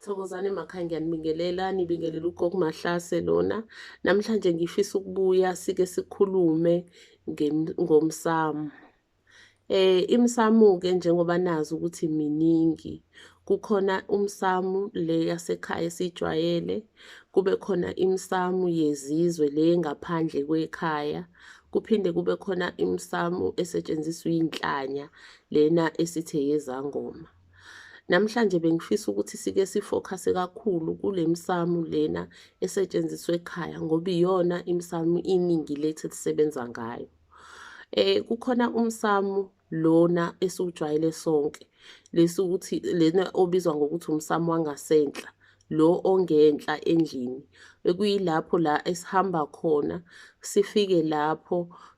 Thokozani emakhaya ngiyanibingelela nibingelela ugogo Mahlase lona namhlanje ngifisa ukubuya sike sikhulume ngomsamo eh imsamo ke njengoba nazi ukuthi miningi kukhona umsamu le yasekhaya esijwayele kube khona imsamu yezizwe le ngaphandle kwekhaya kuphinde kube khona imsamu esetshenziswa inhlanya lena esithe yezangoma Namhlanje bengifisa ukuthi sike sifokhase kakhulu kule misamo lena esetshenziswa ekhaya ngoba iyona imisamo iningi lethu elisebenza ngayo. Eh kukhona umsamo lona esiwujwayele sonke lesi ukuthi lena obizwa ngokuthi umsamo wangasenhla lo ongenhla endlini ekuyilapho la esihamba khona sifike lapho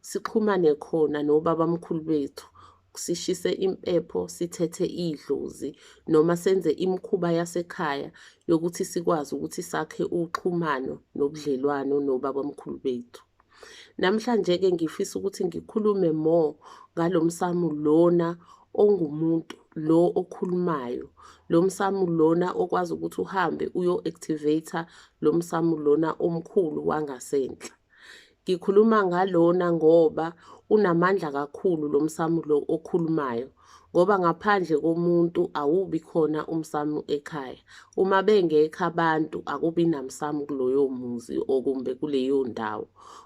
sixhumane khona nobabamkhulu bethu sishise impepho sithethe idlozi noma senze imikhuba yasekhaya yokuthi sikwazi ukuthi sakhe uxhumano nobudlelwano nobabamkhulu bethu. Namhlanje-ke ngifisa ukuthi ngikhulume more ngalo msamu lona ongumuntu lo okhulumayo lo msamu lona okwazi ukuthi uhambe uyo-activate lo msamu lona omkhulu wangasenhla Ngikhuluma ngalona ngoba unamandla kakhulu lo msamu lo okhulumayo ngoba ngaphandle komuntu awubi khona umsamu ekhaya. Uma bengekho abantu akubi namsamu kuloyo muzi okumbe kuleyo ndawo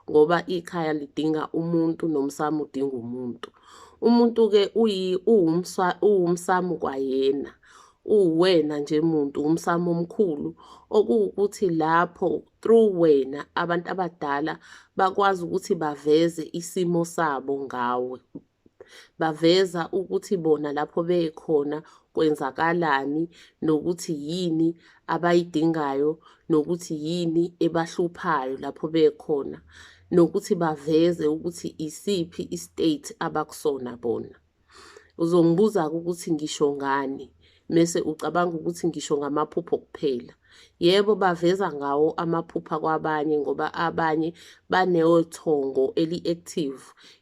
ngoba ikhaya lidinga umuntu nomsamu udinga umuntu. Umuntu-ke uwumsamu kwayena uwuwena nje muntu wumsamo omkhulu okuwukuthi lapho through wena abantu abadala bakwazi ukuthi baveze isimo sabo ngawe baveza ukuthi bona lapho bekhona kwenzakalani nokuthi yini abayidingayo nokuthi yini ebahluphayo lapho bekhona nokuthi baveze ukuthi isiphi istate abakusona bona Uzongibuza-ke ukuthi ngisho ngani, mese ucabanga ukuthi ngisho ngamaphupho kuphela. Yebo, baveza ngawo amaphupha kwabanye ngoba abanye banethongo eli-active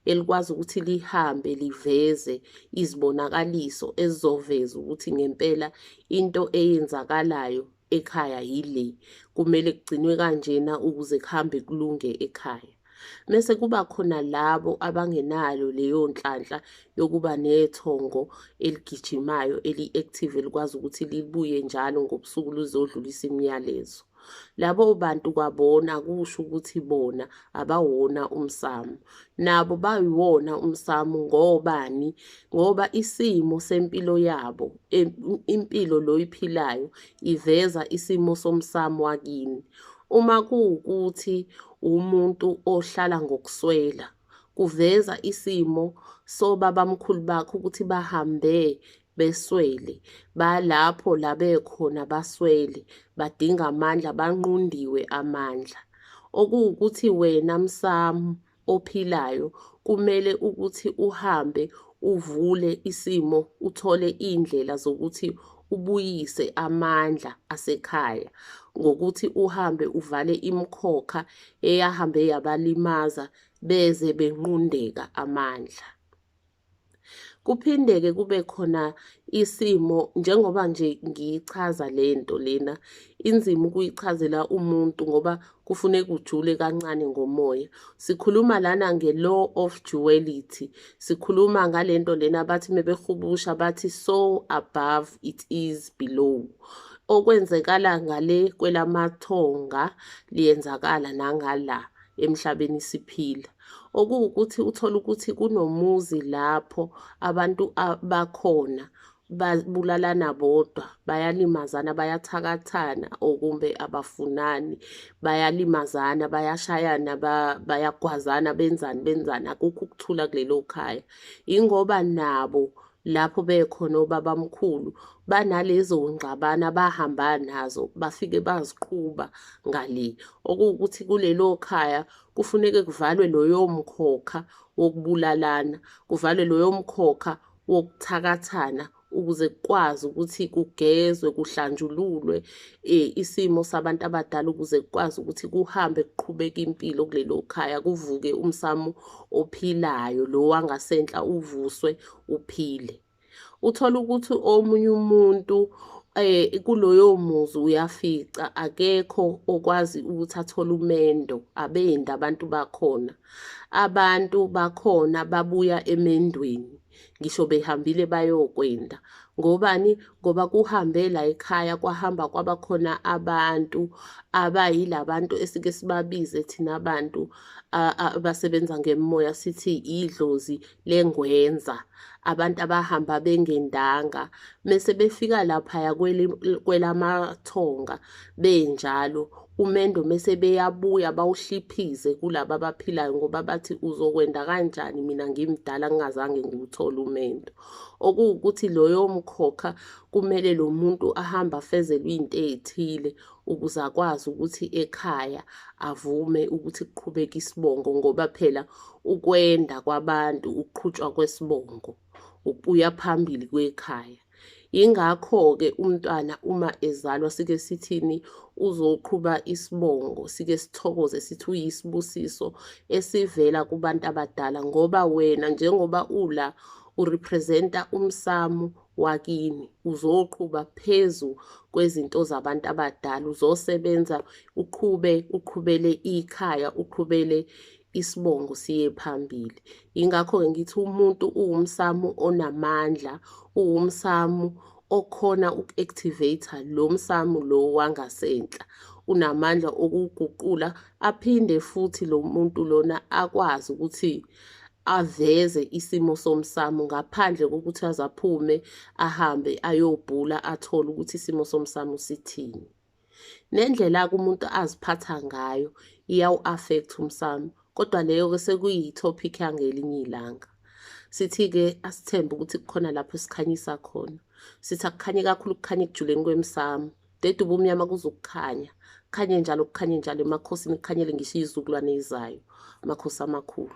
elikwazi ukuthi lihambe liveze izibonakaliso ezizoveza ukuthi ngempela into eyenzakalayo ekhaya yile kumele kugcinwe kanjena ukuze kuhambe kulunge ekhaya mese kuba khona labo abangenalo leyo nhlanhla yokuba nethongo eligijimayo eli-active elikwazi ukuthi libuye njalo ngobusuku luzodlulisa imiyalezo labo bantu kwabona kusho ukuthi bona abawona umsamo nabo bayiwona umsamo ngobani ngoba isimo sempilo yabo impilo loyiphilayo iveza isimo somsamo wakini uma kuwukuthi umuntu ohlala ngokuswela kuveza isimo sobabamkhulu bakho ukuthi bahambe beswele, balapho la bekhona baswele, badinga amandla, banqundiwe amandla. Okuwukuthi wena msamu ophilayo kumele ukuthi uhambe uvule isimo uthole iy'ndlela zokuthi ubuyise amandla asekhaya ngokuthi uhambe uvale imikhokha eyahambe yabalimaza beze benqundeka amandla. Kuphinde-ke kube khona isimo njengoba nje ngiyichaza le nto lena, inzima ukuyichazela umuntu ngoba kufuneka ujule kancane ngomoya. Sikhuluma lana nge-law of duality, sikhuluma ngale nto lena bathi mebehubusha bathi so above it is below okwenzekala ngale kwelamathonga liyenzakala nangala emhlabeni siphila. okuwukuthi uthole ukuthi kunomuzi lapho abantu bakhona babulalana bodwa bayalimazana bayathakathana okumbe abafunani bayalimazana bayashayana bayagwazana benzani benzani akukho ukuthula kulelo khaya ingoba nabo lapho bekhona obabamkhulu banalezo ngxabana bahamba nazo bafike baziqhuba ngale okuwukuthi kulelo khaya Kufuneke kuvalwe loyomkhokha wokubulalana, kuvalwe loyomkhokha wokuthakathana ukuze kukwazi ukuthi kugezwe kuhlanjululwe eh, isimo sabantu abadala ukuze kukwazi ukuthi kuhambe kuqhubeke impilo kulelo khaya kuvuke umsamo ophilayo lo wangasenhla uvuswe uphile. uthole ukuthi omunye umuntu eh kuloyo muzi uyafica akekho okwazi ukuthi athole umendo abendi abantu bakhona abantu bakhona babuya emendweni ngisho behambile bayokwenda ngobani ngoba kuhambe la ekhaya kwahamba kwaba khona abantu abayilabantu esike sibabize thina bantu abasebenza ngemoya sithi idlozi lengwenza abantu abahamba bengendanga mese befika laphaya kwelamathonga benjalo umendo mese beyabuya bawuhliphize kulaba abaphilayo ngoba bathi uzokwenda kanjani mina ngimdala ngingazange ngiwuthole umendo okuwukuthi loyo mkhokha kumele lo muntu ahambe afezelwe into ey'thile ukuze akwazi ukuthi ekhaya avume ukuthi kuqhubeke isibongo ngoba phela ukwenda kwabantu ukuqhutshwa kwesibongo ukubuya phambili kwekhaya yingakho-ke umntwana uma ezalwa sike sithini uzoqhuba isibongo sike sithokoze sithi uyisibusiso esivela kubantu abadala ngoba wena njengoba ula urepresenta umsamo wakini uzoqhuba phezu kwezinto zabantu abadala uzosebenza uqhube uqhubele ikhaya uqhubele isibongo siye phambili ingakho-ke ngithi umuntu uwumsamu onamandla uwumsamu okhona uku-activate-a lo msamu lo wangasenhla unamandla okuguqula aphinde futhi lo muntu lona akwazi ukuthi aveze isimo somsamo ngaphandle kokuthi azaphume ahambe ayobhula athole ukuthi isimo somsamo sithini nendlela umuntu aziphatha ngayo iyawu-affect umsamo kodwa leyo-ke sekuyi-topic yangelinye ilanga sithi-ke asithembe ukuthi kukhona lapho sikhanyisa khona sithi akukhanye kakhulu kukhanye ekujuleni kwemsamo Dede ubumnyama kuzokukhanya. Khanye njalo kukhanye njalo emakhosini kukhanyele ngisho izizukulwane ezizayo. Amakhosi amakhulu.